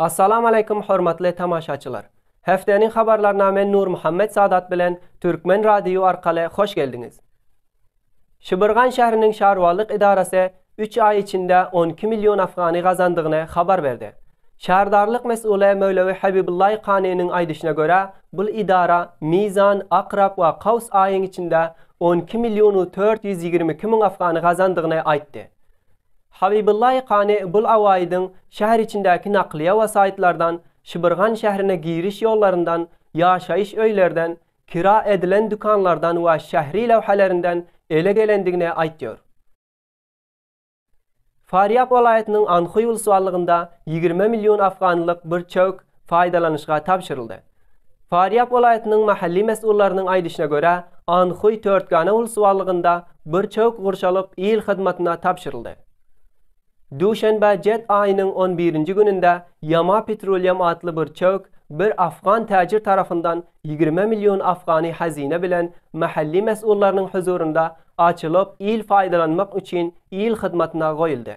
Assalamu aleýkum hormatly tamaşaçylar! Hefteniň habarlaryna men Nurmuhammet Sadat bilen Türkmen Radiýu arkaly hoş geldiňiz! Şibirgan şähriniň şarualyk edarasy üç aý içinde on iki million afgany gazandygyny habar berdi. Şärdarlyk mes'uly Möwlewi Habibullaý Kanynyň aýdyşyna görä, bul edara Mizan, Akrap we Kaws aýyň içinde on iki millionu tört ýüz ýigrimi iki müň afgany gazandygyny aýtdy. Habibullahi Kani Bul Awaýidiň şäher içindäki naklyýe we saýtlardan, Şibirgan şährine giriş ýollaryndan, ýaşaýyş öýlerden, kira edilen dükanlardan we şähri lewhelerinden ele gelendigini aýtýar. Farýab welaýatynyň Anhui wlswallygynda ýigrimi million afganlyk bir çöwk paýdalanyşga tabşyryldy. Farýab welaýatynyň mahally mesgullarynyň aýdyşyna görä, Anhuý Törtgana ulusbarlygynda bir çöwk gurşalyp il hyzmatyna tabşyryldy. Duşenbe jet aýynyň on birinji gününde Yama Petroleum atly bir çöwk bir afgan täjir tarapyndan ýigrimi million afgany hazyna bilen mahally mesgullarynyň huzurynda açylyp il faýdalanmak üçin il hyzmatyna goýuldy.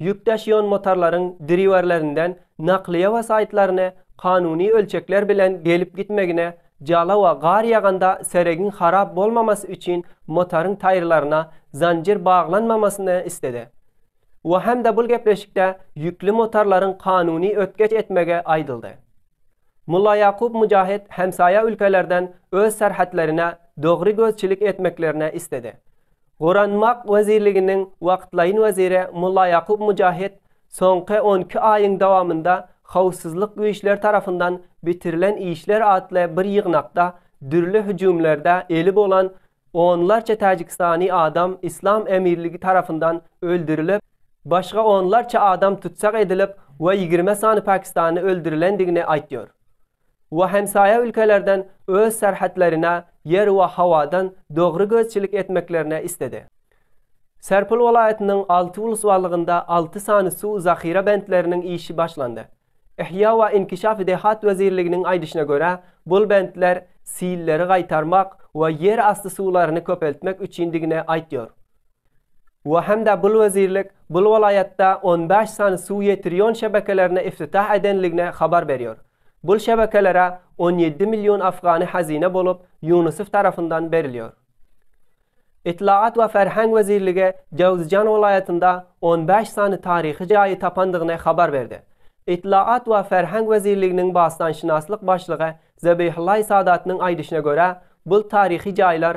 Ýük daşaýan motorlaryň driwerlerinden naklyýe we saýtlaryny kanuny ölçekler bilen gelip-gitmegine, jalawa gar ýaganda seregiň harap bolmamasy üçin motoryň taýyrlaryna zanjir baglanmamasyny isledi. We hem-de bul gepleşikde ýükli motorlaryň kanuny ötgeç etmegi aýdyldy. Mullaýakup Mujahit hemsaýa ülkelerden öz serhetlerine dogry gözçilik etmeklerini isledi. Goranmak wezirliginiň wagtlaýyn weziri Mullaýakup Mujahid soňky on iki aýyň dowamynda howpsuzlyk güýçleri tarapyndan bitirilen işler atly bir ýygnakda dürli hüjümlerde eli bolan onlarça täjikistany adam Yslam Emirligi tarapyndan öldürilip, başga onlarça adam tussag edilip we ýigrimi sany pakistanly öldürilendigini aýtýar. we hemsaýa ülkelerden öz serhetlerine ýer we howadan dogry gözçilik etmeklerini isledi. Serpil welaýatynyň alty ulusbarlygynda alty sany suw zahyra bentleriniň işi başlandy. Yhýa we inkişaf dehat wezirliginiň aýdyşyna görä, bul bentler silleri gaýtarmak we ýer asty suwlaryny köpeltmek üçindigini aýtýar. we hem-de bul wezirlik bul welaýatda on bäş sany suw ýetirýon şebekelerini iftitah edenligini habar berýär. Bul şebekelere on ýedi million afgany hazine bolup Ýunusow tarapyndan berilýär. Ytlagat we ferheng wezirligi Jowzijan welaýatynda on bäş sany taryhy jaýy tapandygyny habar berdi. Ytlagat we ferheng wezirliginiň basdanşynaslyk başlygy Zebihullahi Sadatnyň aýdyşyna görä, bul taryhy jaýlar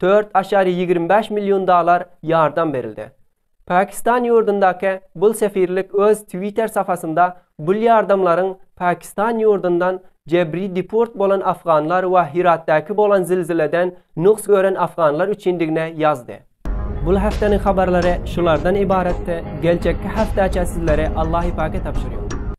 Dört aşary ýigrimi bäş million dalar ýardam berildi. Pakistan ýurdundaky bul sefirlik öz Twitter sapasynda bul ýardamlaryň Pakistan ýurdundan jebri deport bolan afganlar we Hiratdäki bolan zilzileden nuks gören afganlar üçindigine ýazdy. Bul hefteniň habarlary şulardan ybaratdy, geljekki haftaça sizleri Allahypaka tabşyrýar.